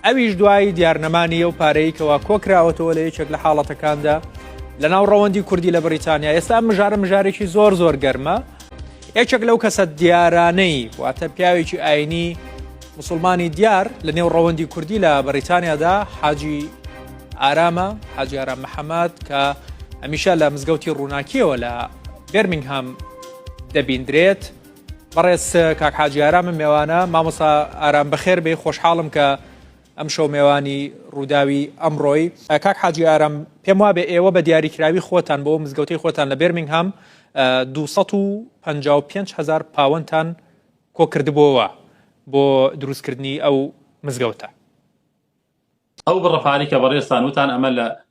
ئەویش دوای دیارنەمانی ئەو پارەی کەوا کۆکراوەتەوە لە یەکێک لە حاڵەتەکاندا لە ناو ڕەوەندی کوردی لە بریتانیا ئێستا مژارە مژارێکی زۆر زۆر گەرمە یەکێک لەو کەسە دیارانەی واتە پیاوێکی ئاینی مسلمانی دیار لە نێو ڕەوەندی کوردی لە بەریتانیادا حاجی ئارامە حاجی ئارام محەممەد کە ئەمیشە لە مزگەوتی ڕووناکیەوە لە بێرمنگهام دەبیندرێت بەڕێز کاک حاجی ئارامم مێوانە مامۆسا ئارام بەخێر بێ خۆشحاڵم کە ئەم شەو مێوانی ڕووداوی ئەمڕۆی کاک حاجی ئارام پێم وابێ ئێوە بە دیاریکراوی خۆتان بۆ مزگەوتی خۆتان لە بێرمنگهام 255 هزار پاوەنتان کۆکردبووەوە بۆ دروستکردنی ئەو مزگەوتە ئەو بڕە پارەی کە بەڕێزتان وتان ئەمە لە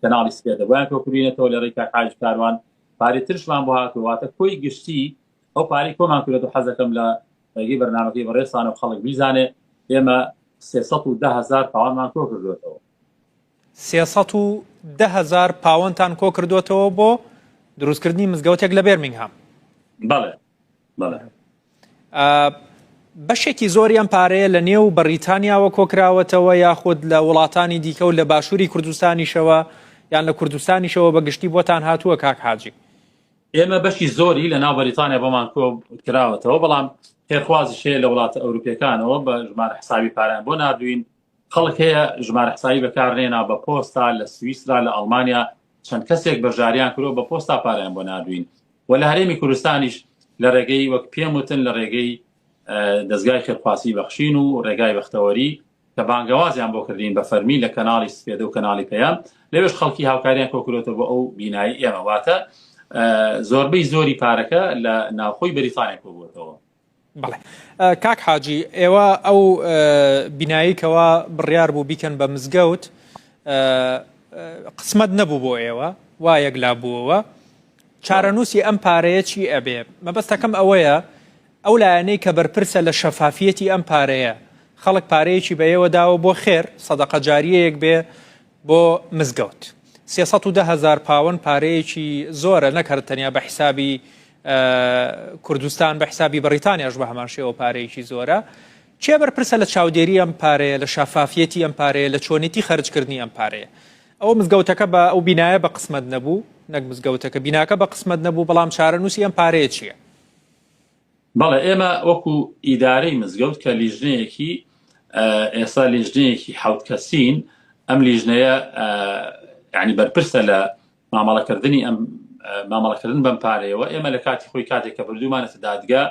کەناڵی سپێدە بۆیان کۆ کردینەتەوە لە ڕێکا حاج کاروان پارێ ترشمان بۆ هاتوواتە کۆی گشتی ئەو پارەی کۆمان کرێت و حەزەکەم لە ڕێگەی بەرنمەکەی بەڕێسانە و خەڵک بیزانێ ئێمە هزار پاوانمان کۆ کردوێتەوە هزار پاوەنتان کۆ کردوێتەوە بۆ دروستکردنی مزگەوتێک لە بێرمنگهام بەڵێ بەڵێ بەشێکی زۆری ئەم پارەیە لە نێو بەریتانیاوە کۆکراوەتەوە یاخود لە وڵاتانی دیکە و لە باشووری کوردستانیشەوە یان لە کوردستانیشەوە بە گشتی بۆتان هاتووە کاک حاجی ئێمە بەشی زۆری لە ناو بەریتانیا بۆمان کۆ کراوەتەوە بەڵام خێرخوازیشەیە لە وڵاتە ئەوروپیەکانەوە بە ژمارە حسابی پارەیان بۆ ناردوین خەڵک هەیە ژمارە حسابی بەکارنێنا بە پۆستا لە سویسرا لە ئەڵمانیا چەند کەسێک بەژاریان کرۆ بە پۆستا پاریان بۆ ناردوین و لە هەرێمی کوردستانیش لە ڕێگەی وەک پێم وتن لە ڕێگەی دەستگای خێرخواسی بەخشین و ڕێگای بەختەوەری کە بانگەوازیان بۆ کردین بە فەرمی لە کەناڵی سپێدە و کەناڵی پەیام لەوێش خەڵکی هاوکاریان کۆکرۆتە بۆ ئەو بینایی ئێمە واتە زۆربەی زۆری پارەکە لە ناوخۆی بەریتانیا کۆبووەتەوە بەڵێ کاک حاجی ئێوە ئەو بینایی کەوا بڕیار بوو بیکەن بە مزگەوت قسمەت نەبوو بۆ ئێوە وا یەک لا بووەوە چارەنووسی ئەم پارەیە چی ئەبێ مەبەستەکەم ئەوەیە ئەو لایەنەی کە بەرپرسە لە شەفافیەتی ئەم پارەیە خەڵک پارەیەکی بە ئێوە داوە بۆ خێر سەدەقە جاریەیەک بێ بۆ مزگەوت سێ سەد و دە هەزار پاوەن پارەیەکی زۆرە نەک هەر تەنیا بە حیسابی کوردستان بە حیسابی بەڕیتانیاش بە هەمان شێوە پارەیەکی زۆرە کێ بەرپرسە لە چاودێری ئەم پارەیە لە شافافیەتی ئەم پارەیە لە چۆنیتی خەرجکردنی ئەم پارەیە ئەو مزگەوتەکە بە ئەو بینایە بە قسمەت نەبوو نەک مزگەوتەکە بیناکە بە قسمەت نەبوو بەڵام چارەنووسی ئەم پارەیە چییە؟ بەڵێ ئێمە وەکو ئیدارەی مزگەوت کە لیژنەیەکی ئێستا لیژنەیەکی حەوت کەسین ئەم لیژنەیە یعنی بەرپرسە لە مامەڵەکردنی ئەم مامەڵەکردن بەم پارەیەوە ئێمە لە کاتی خۆی کاتێک کە بردومانەتە دادگا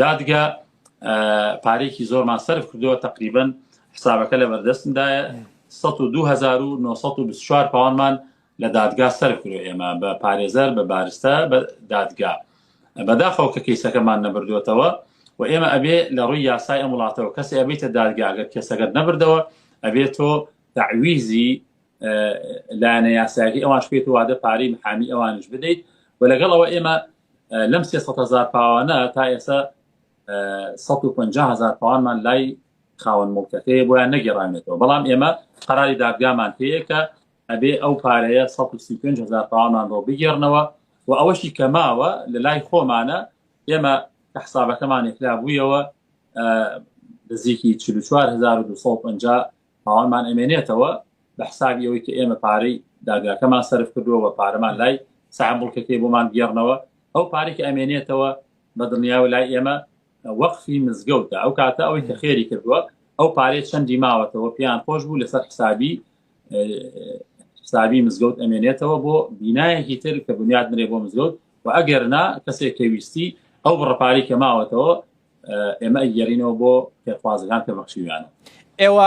دادگا پارێکی زۆرمان سرف کردووە تقریبن حسابەکە لە بەردەستمدایە 1924 پاوانمان لە دادگا سەرکرۆ ئێمە بە پارێزەر بە بارستە بە دادگا بەداخەوە کە کەیسەکەمان نەبردوێتەوە و ئێمە ئەبێ لە ڕووی یاسای ئەم وڵاتەوە کەسی ئەبیتە دادگاگەر کەسەگەت نەبردەوە ئەبێت تۆ داویزی لایەنە یاسایەکە ئەوان شپێت وادە پارەی محامی ئەوانش بدەیت و لەگەڵ ئەوە ئێمە لەم سێ هزار پاوانە تا ئێستا 150 هزار پاوانمان لای خاوەن مڵکەکەی بۆیان نەگەڕانێتەوە بەڵام ئێمە قەراری دادگامان هەیە کە ئەبێ ئەو پارەیە 135 هزار پاوەمان بۆ بگێڕنەوە و ئەوەشی کە ماوە لە لای خۆمانە ئێمە کە حسابەکەمان یکلا بوویەوە نزیکی 4250 پاوەمان ئەمێنێتەوە بە حسابی ئەوەی کە ئێمە پارەی داگاکەمان سرف کردووە پارەمان لای سامبڵکەکەی بۆمان گێڕنەوە ئەو پارێک ئەمێنێتەوە بە دڵنیاوە لای ئێمە وەقفی مزگەوتە ئەو کاتە ئەوەی کە خێری کردووە ئەو پارێ چەندی ماوەتەوە پێیان خۆش بوو لەسەر حسابی ساوی مزگەوت ئەمێنێتەوە بۆ بینایەکی تر کە بنیاد نرێ بۆ مزگەوت و ئەگەر نا کەسێک کەویستی ئەو بڕپاری کە ماوەتەوە ئێمە ئەگەرینەوە بۆ پێخوازەکان کە بەخشیویانە ئێوە